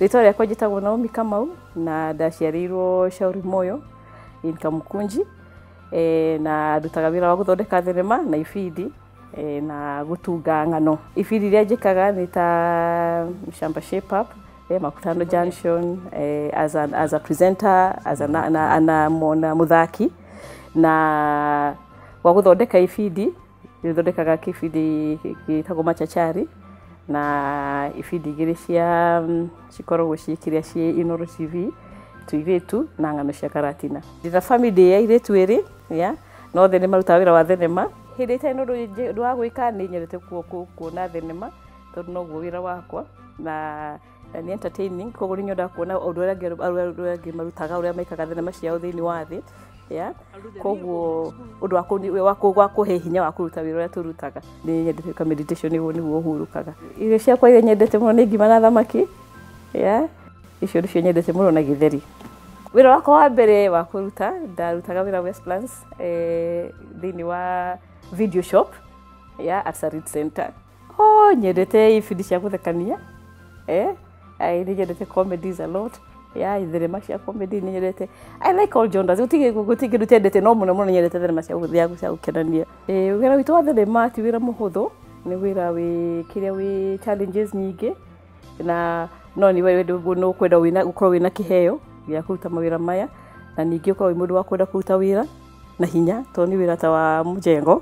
Rĩtwa rĩakwa njĩtagwo Naomi Kamau na ndaciarĩirwo Shauri Moyo in Kamukunji eh, na ndutaga wĩra wa gũthondeka thenema na ibindi eh, na gũtunga ng'ano. Ibindi iria njĩkaga nĩ ta Shamba Shape Up, eh, Makutano Junction, eh, as, an, as a presenter, as a, na, na, na, na mũthaki na wa gũthondeka ibindi nĩ thondekaga kĩbindi gĩtagwo machachari na ibindi igĩrĩ cia mm, cikoragwo ciĩkĩrĩa ciĩ Inooro TV tuirĩtu na ng'ano cia karatina ndĩna family ya irĩtu ĩrĩ ya na othe nĩ marutaga wĩra wa thenema hĩndĩ ĩtarĩ na ũndũ njĩ- wa gwĩka nĩ nyendete kuo- kuo- kuona thenema tondũ noguo wĩra wakwa na na nĩ entertaining koguo nĩ nyonaga kuona ũndũ ũrĩa angĩ- ũrĩa ũrĩa angĩ marutaga ũrĩa maikaga thenema ciao thĩinĩ wa thĩ ya koguo ũndũ wa kũni- wa kũ- wa kũhe hinya wa kũruta wĩra ũrĩa tũrutaga nĩ nyendete ka meditation nĩguo nĩguo hurũkaga irio ciakwa iria nyendete mũno nĩ ngima na thamaki ya icio nĩcio nyendete mũno na gĩtheri wĩra wakwa wa mbere wa kũruta ndarutaga wĩra Westlands eh, thĩinĩ wa video shop ya Absarit Center oh nyendete ibindi cia guthekania eh ai ni nyendete comedies a lot ya itherema cia comedy ni nyendete i like all genres gutige gutige ndutendete no muno muno nyendete therema cia guthia cia gukenania eh wira witu wa therema ti wira muhuthu ni wira wi kiria wi challenges nyingi na no ni wewe no ukwenda wina ukorwo wina kiheo gya kuruta mawira maya na ningĩ ukorwo wĩ mũndũ wa kwenda kũruta wĩra na hinya tondũ nĩ wĩra ta wa mũjengo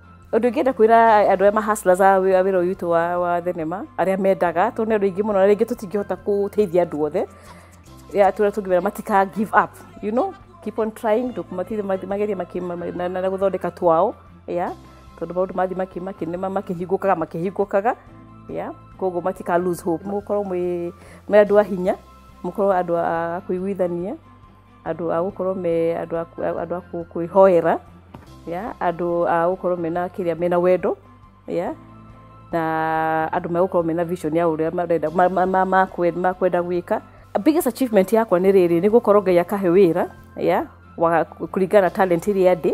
Ũndũ ingĩenda kwĩra andũ aya ma hustlers a wĩ- a wĩra ũyũ witũ wa, wa thenema arĩa mendaga tondũ nĩ andũ aingĩ mũno na rĩngĩ tũtingĩhota gũteithia andũ othe ya tũrĩa tũngĩmera matika give up you know keep on trying ndũkũmatithie magerie makĩ- ma- ma- na- na na gũthondeka twao ya tondũ maũndũ mathiĩ makĩ- makĩ- nĩ ma- makĩhingũkaga makĩhingũkaga ya koguo matika lose hope mũkorwo mwĩ mwĩ andũ a hinya mũkorwo andũ a kũiguithania andũ a gũkorwo me andũ a kũ- andũ a kũ- kwĩhoera ya andũ a gũkorwo mena kĩrĩa mena wendo ya na andũ megũkorwo mena vision ya ũrĩa marenda ma- ma- ma- ma- kwe- ma kwenda gwĩka biggest achievement yakwa nĩ rĩrĩ nĩ gũkorwo ngai akahe wĩra ya wa kũringana na talent iria ndĩ